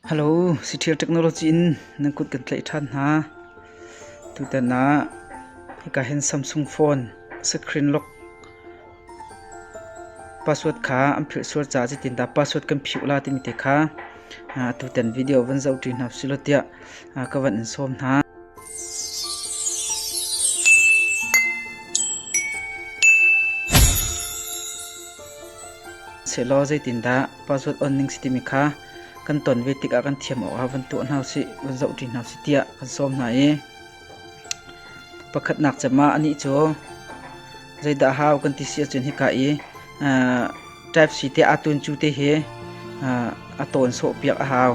Hello, Sithir Technology in nan kut kan tlaih ṭhan hna. Tutan ah hika hin Samsung phone screen lock password kha an philh sual caah zitindah password kan phiuh la timi te kha ah, tutan video van zoh ṭi hna silo tiah ah, ka van in sawm hna. Selaw zeitindah password on ning si timi kha kan ton ve tikah kan thiam awkah van tuah hna sih, van zohṭi hna sih tiah kan sawm hna i pakhatnak cem ah anih cu zeidah hau kan ti si ahcun hika i type C te aa tun cu te hi a tawn sawhpiak a hau.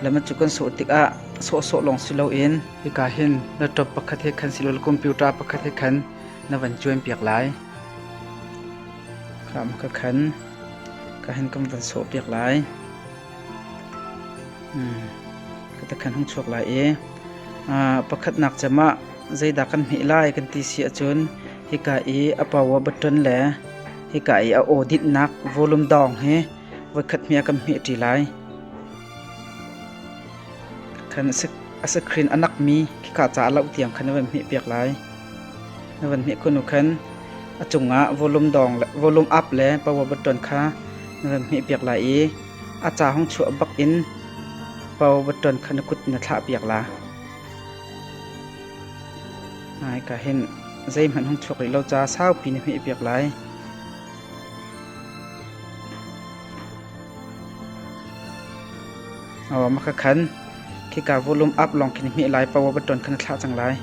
Lama cu kan sawh tikah sawhsawh lawng si loin hika hin laptop pakhat he khan si lo computer pakhat he khan na van cuan piak lai. Kham ka khan. ka han kan van sawh piak lai hmm. ka ta khan hung chuak lai i pakhatnak cem ah zeidah kan hmeh lai kan ti si ahcun hika i a power button le hika i a auditnak volume dong hi voikhat hmia kan hmeh ṭi lai khan a screen anak mi khika ca lo tiang khan van hmeh piak lai na van hnih khunu khan a cungah volume dong le volume up le power button kha na van hnih piak lai i a ca hong chuah bak in power button kha na kut na thlah piak la ai ka hin zei hmanh hong chuak rih lo ca saupi na hmih piak lai o makha khan Khika volum up lawng khin hmeh lai paoh ah baṭon khan a thlah cang lai.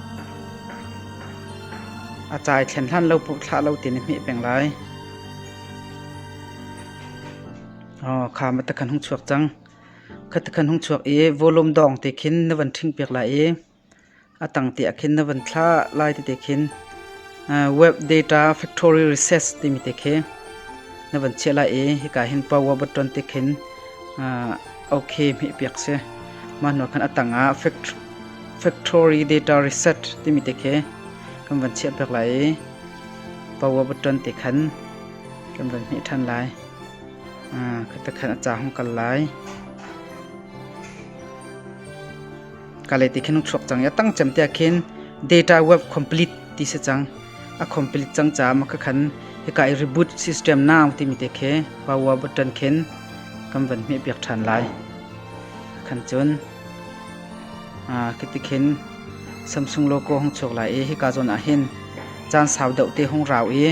A cai thlen hlan lo puh thlah lo ti nih hmeh peng lai. Oh, kha ma takhan hung chuak cang. Kha takhan hung chuak i volum dawng te khin na van ṭhing piak lai i a tangte ah khin na van thlah lai ti te khin web data factory research timi te khi na van chiah lai i hika hin power button te khin okay mi piak si mah hnu khan atang ah factory data research timi te khi kan van chiah piak lai i power button te khan kan van hmeh than lai khata khan a cha hong kal lai kale ti khin thluak cang ya tang chem te khin data web complete ti se chang a complete chang cha ma ka khan he kai reboot system now ti mi te khe power button khin kam van me pek than lai khan chun a kiti khin samsung logo hong chok lai e hi ka zon a hin chan sau dau te hong rau e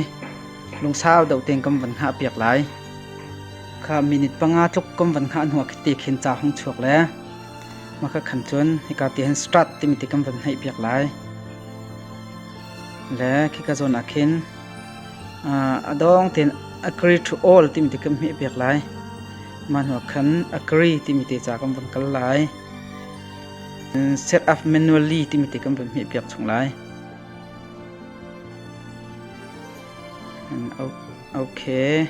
lung sau dau ten kam van ha pek lai kha minute panga tluk kam van ha nuwa khite khin cha hong chok le Mah ka khan cun hika ti hin strat timi ti kan van hneih piak lai. Le khika zawn ah khin a dong tein agree to all timi ti kan hmeh piak lai. Mah hnuah khan agree timi te ca kan van kal lai. Set up manually timi ti kan van hmeh piak chung lai. Okay.